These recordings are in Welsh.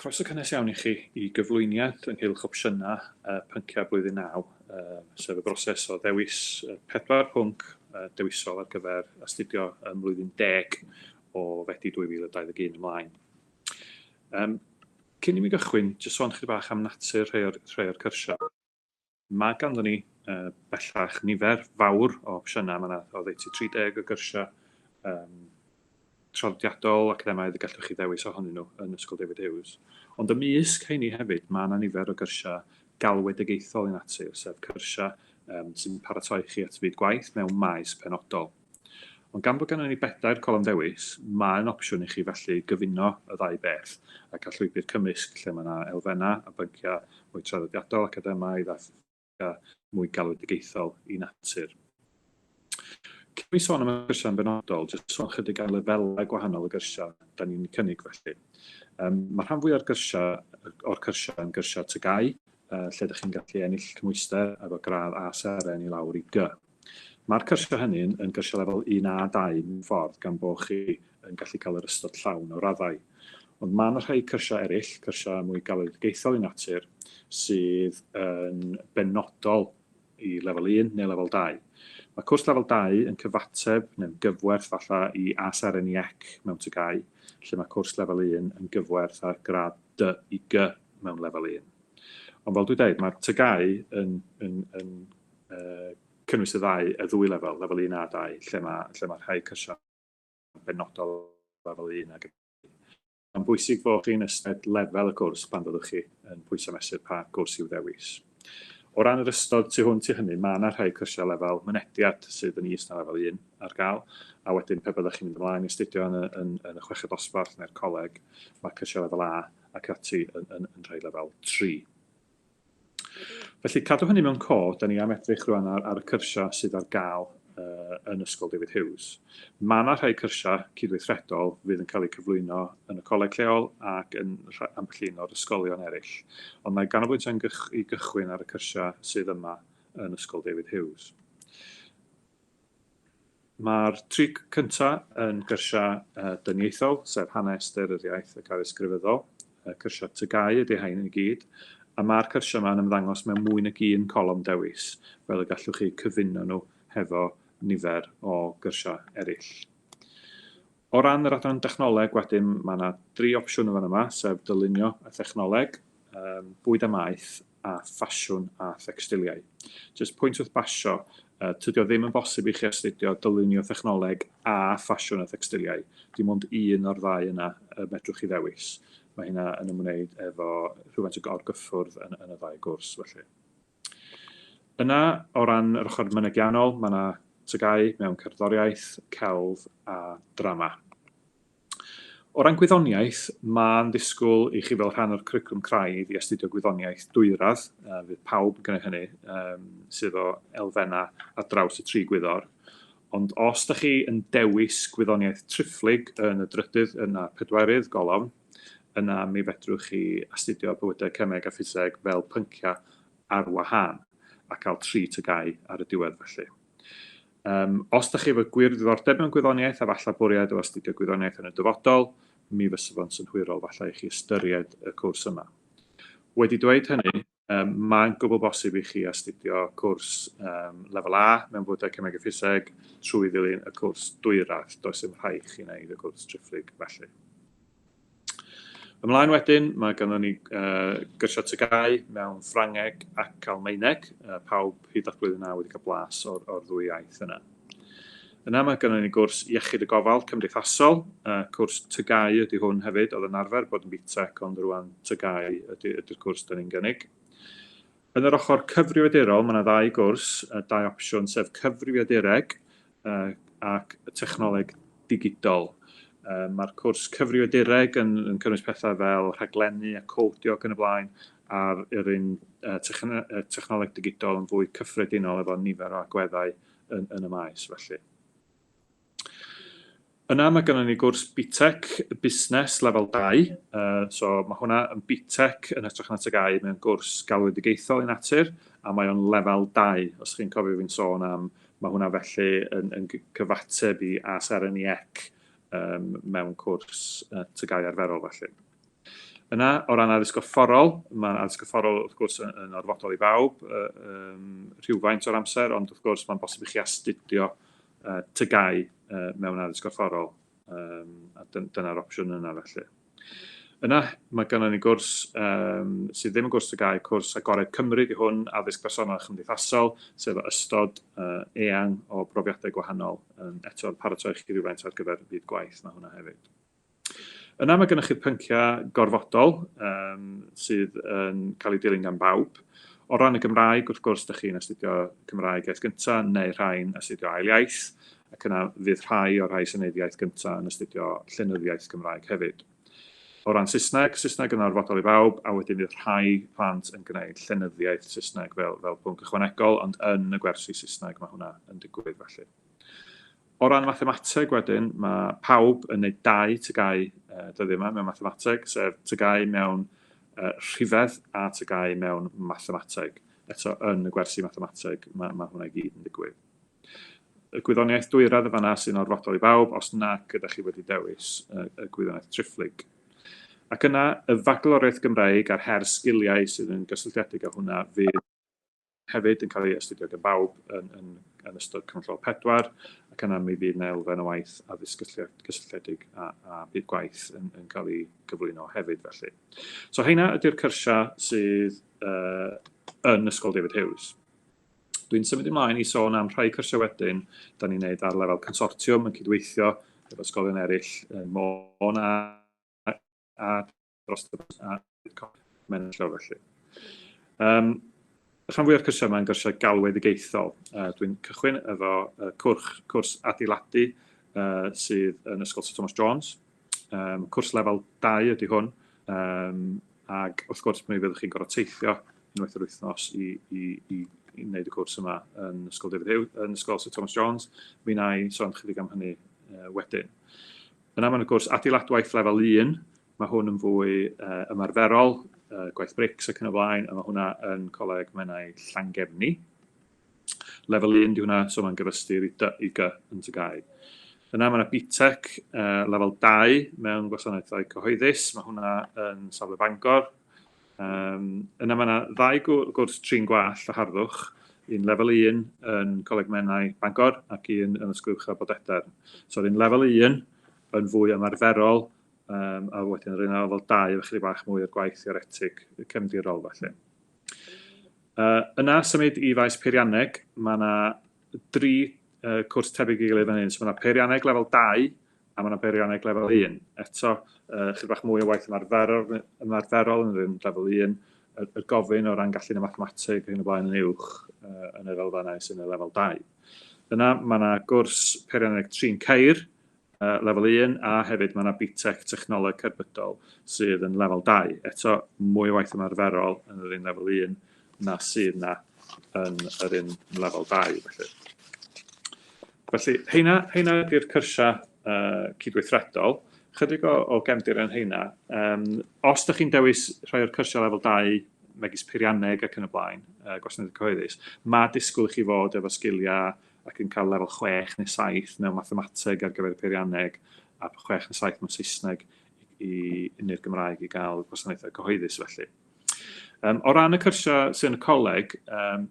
Croeso cynnes iawn i chi i gyflwyniad ynghylch opsiynau pynciau Blwyddyn Naw, sef y broses o ddewis y pedwar pwnc dewisol ar gyfer astudio ym Mlwyddyn Deg o Fedi 2021 ymlaen. Cyn i mi gychwyn, jyst sôn chydig bach am natur rhai o'r cyrsiau. Mae ganddon ni bellach nifer fawr o opsiynau. Mae 'na oddeutu 30 o gyrsiau traddodiadol, academaidd y gallwch chi ddewis ohonyn nhw yn Ysgol David Hughes. Ond ymysg rheini hefyd, mae 'na nifer o gyrsiau galwedigaethol i natur, sef cyrsiau sy'n paratoi chi at fyd gwaith mewn maes penodol. Ond gan bod ganddo ni bedair colofn ddewis, mae'n opsiwn i chi felly gyfuno y ddau beth a cael llwybr cymysg lle mae yna elfennau a bynciau mwy traddodiadol, academaidd a phynciau mwy galwedigaethol i natur. Cyn mi sôn am y gyrsiau'n benodol, jyst sôn chydig am lefelau gwahanol y gyrsiau da ni'n cynnig felly. Um, mae rhan fwy o'r gyrsiau, o'r cyrsiau yn gyrsiau tygau, uh, lle ydych chi'n gallu ennill cymwyster efo gradd A seren i lawr i G. Mae'r cyrsiau hynny yn gyrsiau lefel un A dau mewn ffordd gan bo chi yn gallu cael yr ystod llawn o raddau. Ond mae 'na rhai cyrsiau eraill, cyrsiau mwy galwedigaethol i natur, sydd yn benodol i lefel un neu lefel dau. Mae cwrs lefel dau yn cyfateb neu'n gyfwerth falle i ASRNIEC mewn TGAU, lle mae cwrs lefel un yn gyfwerth â'r gradd dy i gy mewn lefel un. Ond fel dwi deud, mae TGAU yn cynnwys y ddau, y ddwy lefel, lefel un a dau, lle mae, lle mae rhai cyrsiau'n benodol lefel un ac ati. Mae'n bwysig bod chi'n ystyried lefel y cwrs pan fyddwch chi yn pwyso mesur pa gwrs i'w ddewis. O ran yr ystod tu hwnt i hynny, mae yna rhai cyrsiau lefel mynediad sydd yn is na lefel un ar gael, a wedyn pe byddwch chi'n mynd ymlaen i astudio yn y, yn, yn y chweched dosbarth neu'r coleg, mae cyrsiau lefel A ac ati yn, yn, yn rhai lefel tri. Felly, cadw hynny mewn cof, da ni am edrych rwan ar, ar y cyrsiau sydd ar gael uh, yn Ysgol David Hughes. Mae yna rhai cyrsiau cydweithredol fydd yn cael eu cyflwyno yn y coleg lleol ac yn ambell un o'r ysgolion eraill, ond mae ganolbwyntio yn gych, i gychwyn ar y cyrsiau sydd yma yn Ysgol David Hughes. Mae'r tri cyntaf yn gyrsiau dyniaethol, sef hanes, daearyddiaeth ac addysg grefyddol. Cyrsiau TGAU ydy rhain i gyd, a mae'r cyrsiau yma yn ymddangos mewn mwy nag un colofn dewis, fel y gallwch eu cyfuno nhw hefo nifer o gyrsiau eraill. O ran yr adran dechnoleg wedyn, mae yna dri opsiwn yn fan yma, sef dylunio a thechnoleg, bwyd a maeth a ffasiwn a thecstiliau. Jyst pwynt wrth basio, tydi o ddim yn bosib i chi astudio dylunio thechnoleg a ffasiwn a thecstiliau. Dim ond un o'r ddau yna y medrwch chi ddewis. Mae hynna yn ymwneud efo rhywfaint o gorgyffwrdd yn, yn y ddau gwrs felly. Yna, o ran yr ochr mynegiannol, mae yna tygau mewn cerddoriaeth, celf a drama. O ran gwyddoniaeth, mae'n ddisgwyl i chi fel rhan o'r cwricwlwm craidd i astudio gwyddoniaeth dwyradd, a fydd pawb yn gwneud hynny, um, sydd o elfennau ar draws y tri gwyddor. Ond os da chi yn dewis gwyddoniaeth triphlyg yn y drydydd yna pedwerydd golofn, yna mi fedrwch chi astudio bywydau cemeg a ffiseg fel pynciau ar wahân a cael tri tygau ar y diwedd felly. Yym, os da chi efo gwir ddiddordeb mewn gwyddoniaeth a falla bwriad o astudio gwyddoniaeth yn y dyfodol, mi fysa fo'n synhwyrol falla i chi ystyried y cwrs yma. Wedi dweud hynny, um, mae'n gwbl bosib i chi astudio cwrs um, lefel A mewn bywydau cemeg a ffiseg trwy ddilyn y cwrs dwyradd. Does dim rhaid chi wneud y cwrs triphlyg felly. Ymlaen wedyn, mae ganddo ni gyrsiau tygau mewn Ffrangeg ac Almaeneg, pawb hyd at blwyddyn naw wedi cael blas o'r ddwy iaith yna. Yna mae ganddo ni gwrs Iechyd y Gofal Cymdeithasol, cwrs tygau ydy hwn hefyd, oedd yn arfer bod yn BTEC ond rwan tygau ydy'r cwrs 'da ni'n gynnig. Yn yr ochr cyfrifiadurol, mae yna ddau gwrs, dau opsiwn, sef cyfrifiadureg ac technoleg digidol. Mae'r cwrs cyfrifiadureg yn cynnwys pethau fel rhaglennu a codio ac yn y blaen, a'r yr un technoleg digidol yn fwy cyffredinol efo nifer o agweddau yn y maes felly. Yna mae gynnon ni gwrs BTEC busnes lefel dau, yy so ma' hwnna yn BTEC yn hytrach na TGAU, mae o'n gwrs galwedigaethol ei natur, a mae o'n lefel dau, os chi'n cofio fi'n sôn am, ma' hwnna felly yn yn gy- cyfateb i AS-RNIEC yym mewn cwrs yy TGAU arferol felly. Yna, o ran addysg gorfforol, ma' addysg gorfforol wrth gwrs y- yn orfodol i bawb yy yym rhywfaint o'r amser, ond wrth gwrs ma'n bosib i chi astudio TGAU mewn addysg gorfforol, a dyna'r opsiwn yna felly. Yna, mae gynnon ni gwrs sydd ddim yn gwrs TGAU, cwrs Agored Cymru 'di hwn, Addysg Bersonol a Chymdeithasol, sef o ystod eang o brofiadau gwahanol, eto yn paratoi chi rywfaint ar gyfer byd gwaith, mae hwnna hefyd. Yna mae gennych chi'r pynciau gorfodol yym sydd yn cael eu dilyn gan bawb. O ran y Gymraeg, wrth gwrs, dych chi'n astudio Cymraeg iaith gynta neu rhai'n astudio ail iaith, ac yna fydd rhai o'r rhai sy'n wneud iaith gynta yn astudio llenyddiaeth Gymraeg hefyd. O ran Saesneg, Saesneg yn orfodol i bawb, a wedyn fydd rhai plant yn gwneud llenyddiaeth Saesneg fel fel pwnc ychwanegol, ond yn y gwersi Saesneg mae hwnna yn digwydd felly. O ran mathemateg wedyn, mae pawb yn neud dau tygau dyddiau yma mewn mathemateg, sef tygau mewn rhifedd a tygau mewn mathemateg. Eto, yn y gwersi mathemateg, mae, mae hwnna i gyd yn digwydd. Y gwyddoniaeth dwyradd yn fanna sy'n orfodol i bawb, os nag ydych chi wedi dewis y, y gwyddoniaeth triphlyg. Ac yna, y fagloriaeth Gymraeg a'r her sgiliau sydd yn gysylltiedig â hwnna fydd hefyd yn cael ei astudio gan bawb yn, yn, yn ystod Cyfnod pedwar, ac yna mi fydd yna elfen o waith addysg gysylltiedig a, a bydd gwaith yn, yn cael ei gyflwyno hefyd felly. So heina ydy'r cyrsiau sydd uh, yn Ysgol David Hughes. Dwi'n symud ymlaen i sôn am rhai cyrsiau wedyn, da ni'n neud ar lefel consortiwm yn cydweithio efo ysgolion eraill yn Môn a, a dros y bws a mae'n llaw felly. Um, rhan fwyaf o'r cyrsiau yma yn gyrsiau galwedigaethol. Uh, Dwi'n cychwyn efo uh, cwrs, cwrs adeiladu uh, sydd yn Ysgol Sir Thomas Jones. Um, cwrs lefel 2 ydy hwn, um, ac wrth gwrs mi fyddwch chi'n gorfod teithio unwaith yr wythnos i, i, i, i wneud y cwrs yma yn Ysgol David Hughes, yn Ysgol Sir Thomas Jones. Mi na i sôn chydig am hynny uh, wedyn. Yn aml yn y cwrs adeiladwaith lefel un, mae hwn yn fwy ymarferol, gwaith brics ac yn y blaen, a mae hwnna yn Coleg Menai Llangefni. Lefel un, di hwnna, so mae'n gyfystyr i dy i gy yn Tygau. Yna mae yna BTEC lefel 2 mewn gwasanaethau cyhoeddus, mae hwnna yn safle Bangor, Yym, yna mae yna ddau gwrs trin gwallt a harddwch, un lefel 1 yn Coleg Menai Bangor ac un yn Ysgol Uwchradd Bodedarn. So, un lefel 1 yn fwy ymarferol, um, a wedyn yr un lefel 2 efo chydig bach mwy o'r gwaith theoretig cefndirol felly. Uh, yna symud i faes peirianneg, mae yna dri uh, cwrs tebyg i gilydd fan hyn. So, mae yna peirianneg lefel 2, a ma' 'na beirianneg lefel un. Eto, yy chydig bach mwy o waith ymarferol ymarferol yn rhywun lefel un, y, y gofyn o ran gallu yn y mathemateg ac yn y blaen yn uwch yy yn yr elfennau sy'n y lefel 2. Yna mae yna gwrs peirianneg trin ceir, uh, lefel 1 a hefyd mae yna BTEC technoleg cerbydol sydd yn lefel 2. Eto, mwy o waith ymarferol yn yr un lefel 1 na sydd na yn yr un lefel 2 felly. Felly heina, heina ydy'r cyrsiau uh, cydweithredol. Chydig o, o gefndir yn heina. Um, os ydych chi'n dewis rhai o'r cyrsiau lefel 2 megis peirianneg ac yn y blaen, uh, gwasanaeth cyhoeddus, mae disgwyl i chi fod efo sgiliau ac yn cael lefel 6 neu 7 mewn mathemateg ar gyfer y peirianneg a 6 neu 7 mewn Saesneg i, i, neu'r Gymraeg i gael gwasanaethau cyhoeddus felly. O ran y cyrsiau sydd yn y coleg,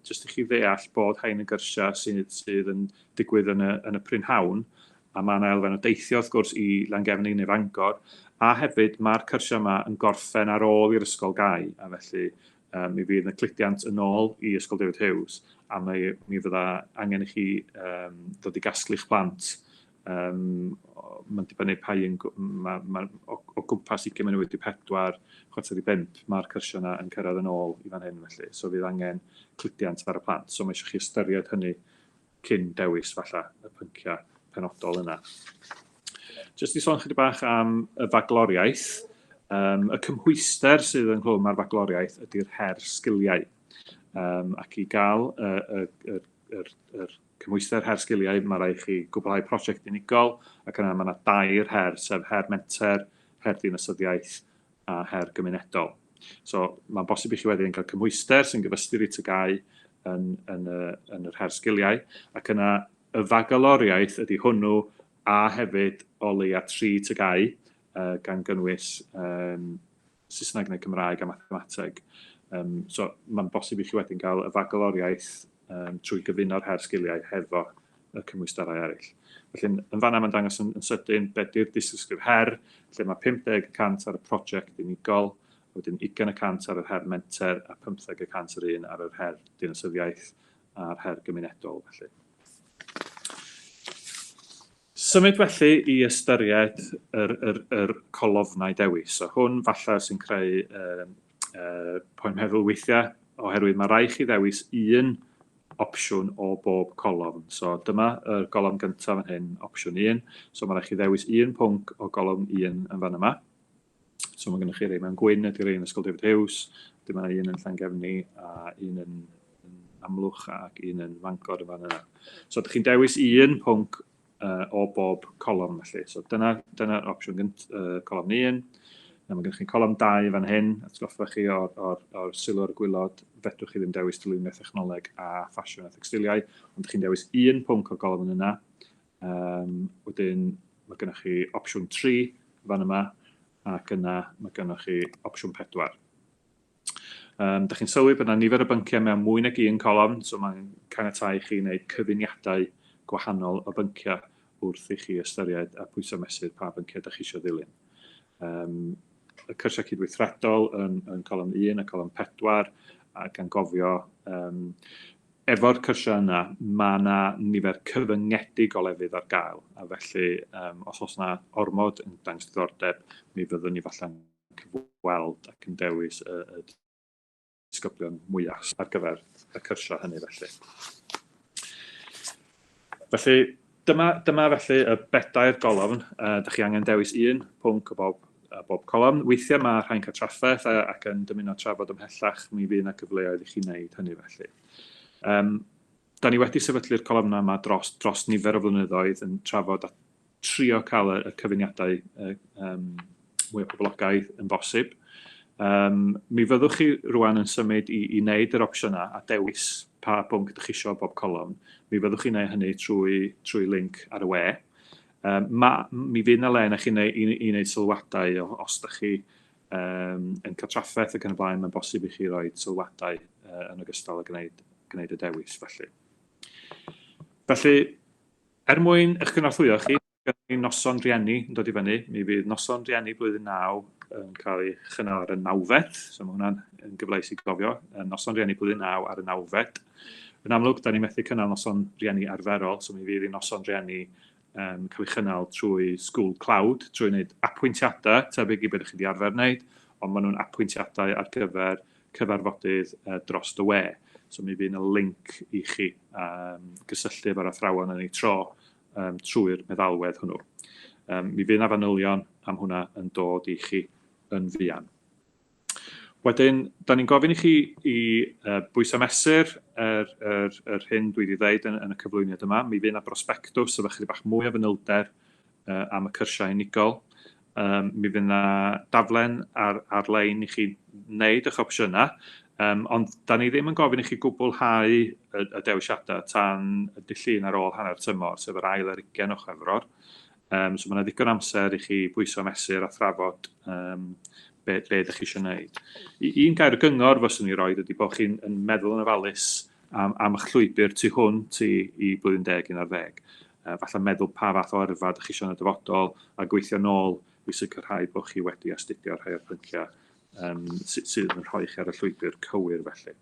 jyst i chi ddeall bod rhain yn gyrsiau sydd yn digwydd yn y prynhawn, a mae yna elfen o deithio wrth gwrs i Langefni neu Fangor, a hefyd mae'r cyrsiau yma yn gorffen ar ôl i'r ysgol gau, a felly mi fydd yna cludiant yn ôl i Ysgol David Hughes, a mi fydda angen i chi ddod i gasglu'ch plant Yym, mae'n dibynnu pa un, ma', ma', o, o gwmpas ugain munud wedi pedwar, chwarter i bump, ma'r cyrsiau yna yn cyrraedd yn ôl i fan hyn felly, so fydd angen cludiant ar y plant, so ma' eisiau chi ystyried hynny cyn dewis falla y pynciau penodol yna. Jyst i sôn chydig bach am y fagloriaeth, um, y cymhwyster sydd ynghlwm â'r fagloriaeth ydy'r her sgiliau, um, ac i gael y, y, y, y, y, y Cymhwyster Her Sgiliau, Mae rhaid i chi gwblhau prosiect unigol ac yna mae yna dair her sef Her Menter, Her Dinasyddiaeth a Her Gymunedol. So, mae'n bosib i chi wedyn cael cymhwyster sy'n gyfystyr i TGAU yn, yn, y, yn yr Her Sgiliau ac yna y fagaloriaeth ydy hwnnw a hefyd o leia tri TGAU gan gynnwys um, Saesneg neu Cymraeg a Mathemateg. Um, so mae'n bosib i chi wedyn gael y fagaloriaeth um, trwy gyfuno'r her sgiliau hefo y cymwysterau eraill. Felly, yn fanna mae'n dangos yn, yn sydyn beth yw'r disgriff her, lle mae 50% ar y prosiect unigol, a wedyn 20% ar yr her menter a 15% yr un ar yr her dinasyddiaeth a'r her gymunedol. Felly. Symud felly i ystyried yr yr yr colofnau dewis. A hwn falle sy'n creu yy yy poen meddwl weithiau oherwydd mae rhaid chi ddewis un opsiwn o bob colofn. So dyma y golofn gyntaf yn hyn, opsiwn 1. So mae rhaid chi ddewis un pwnc o golofn 1 yn fan yma. So mae gennych chi rei mewn gwyn ydy'r rei yn Ysgol David Hughes, dyma mae un yn Llangefni a un yn, yn Amlwch ac un yn Fangor yn fan yna. So ydych chi'n dewis un pwnc uh, o bob colofn felly. So dyna'r dyna, dyna opsiwn gynt, uh, colofn 1. Na, mae gennych chi'n colofn 2 fan hyn, atgoffa chi o'r, or, or sylw ar y gwylod, fedrwch chi ddim dewis dylunio technoleg a ffasiwn a thecstiliau, ond ydych chi'n dewis un pwnc o'r golofn yna, Um, wedyn mae gennych chi opsiwn 3 fan yma, ac yna mae gennych chi opsiwn 4. Um, da chi'n sylwi bod yna nifer o bynciau mewn mwy nag un colofn, so mae'n caniatau chi wneud cyfuniadau gwahanol o bynciau wrth i chi ystyried a pwysau mesur pa bynciau da chi eisiau ddilyn. Um, y cyrsiau cydweithredol yn, yn colofn 1 a colofn 4, a gan gofio um, Efo'r cyrsiau yna, mae 'na nifer cyfyngedig o lefydd ar gael, a felly os oes 'na ormod yn dangos diddordeb, mi fyddwn ni falle'n cyfweld ac yn dewis y disgyblion mwya' ar gyfer y cyrsiau hynny felly. Felly, Dyma, dyma felly y bedair golofn. Uh, dych chi angen dewis un pwnc o bob, uh, bob colofn. Weithiau mae rhai'n cael trafferth uh, ac yn dymuno trafod ymhellach, mi fydd yna gyfleoedd i chi wneud hynny felly. Um, da ni wedi sefydlu'r colofnau yma dros, dros nifer o flynyddoedd yn trafod a trio cael y, y cyfuniadau uh, um, mwy o boblogaidd yn bosib. Um, mi fyddwch chi rwan yn symud i, i wneud yr opsiynau a dewis pa bwnc ydych chi eisiau bob colofn. Mi fyddwch chi'n gwneud hynny trwy, trwy link ar y we. Um, ma, mi fydd yna le na chi'n ei, i wneud sylwadau os ydych chi um, yn cael trafferth ac yn y blaen, mae'n bosib i chi roi sylwadau uh, yn ogystal â gwneud, gwneud y dewis. Felly, felly er mwyn eich cynorthwyo chi, Gynnon ni noson rhieni yn dod i fyny. Mi fydd noson rhieni blwyddyn naw yn cael ei chynnal ar y nawfed, so mae hwnna'n yn gyfleus i gofio, yn noson rhieni blwyddyn naw ar y nawfed. Yn amlwg, da ni methu cynnal noson rhieni arferol, so mi fydd i noson rhieni um, cael ei chynnal trwy School Cloud, trwy wneud apwyntiadau tebyg i beth chi wedi arfer wneud, ond maen nhw'n apwyntiadau ar gyfer cyfarfodydd uh, dros dy we. So mi fydd yna link i chi um, gysylltu efo'r athrawon yn ei tro um, trwy'r meddalwedd hwnnw. Um, mi fydd yna fanylion am hwnna yn dod i chi yn fuan. Wedyn, da ni'n gofyn i chi i uh, bwyso mesur yr, er, er, er hyn dwi wedi dweud yn, yn y cyflwyniad yma. Mi fydd yna brosbectws efo chydig bach mwy o fanylder uh, am y cyrsiau unigol. Um, mi fydd yna daflen ar, ar-lein i chi wneud eich opsiynau, um, ond da ni ddim yn gofyn i chi gwblhau y, y dewisiadau tan y dillun ar ôl hanner tymor, sef yr ail ar ugen o chwefror. Um, so mae yna ddigon amser i chi bwyso mesur a thrafod um, be, be ydych chi eisiau gwneud. I, un gair gyngor fyswn i roed ydy bod chi'n meddwl yn ofalus am, am eich llwybr tu hwnt i, i blwyddyn deg un ar ddeg. a falle meddwl pa fath o yrfa dych chi isio yn y dyfodol, a gweithio nôl i sicrhau bod chi wedi astudio rhai o'r pynciau um, sydd yn rhoi chi ar y llwybr cywir felly.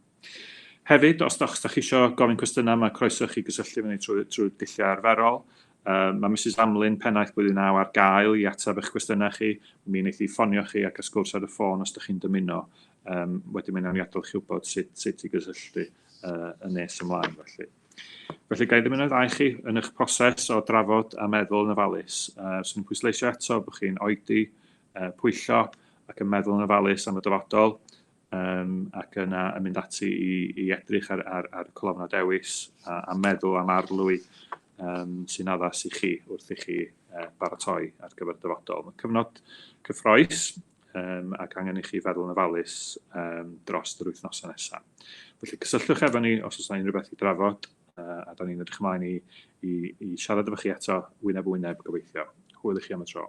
Hefyd, os da chi eisiau gofyn cwestiynau, mae croeso chi gysylltu fyny trwy, trwy dulliau arferol. Uh, mae Mrs Amlin, pennaeth blwyddyn naw ar gael i ateb eich cwestiynau chi. Mi wneith i ffonio chi ac ysgwrs ar y ffôn os ydych chi'n dymuno. Um, wedyn mae'n amniadol chi wybod sut, sut i gysylltu uh, yn nes ymlaen felly. Felly, ga i ddim yn eich ddau chi yn eich proses o drafod a meddwl yn ofalus. Uh, Swn i'n pwysleisio eto bod chi'n oedi, uh, pwyllo ac yn meddwl yn ofalus am y dyfodol um, ac yna yn mynd ati i, i edrych ar, ar, ar y colofnau dewis a, a meddwl am arlwy um, sy'n addas i chi wrth i chi uh, baratoi ar gyfer dyfodol. Mae cyfnod cyffroes um, ac angen i chi feddwl yn ofalus um, dros yr wythnosau nesaf. Felly cysylltwch efo ni os oes unrhyw beth i drafod, uh, a da ni'n edrych ymlaen i, i, i siarad efo chi eto wyneb wyneb gobeithio. Hwyl i chi am y tro.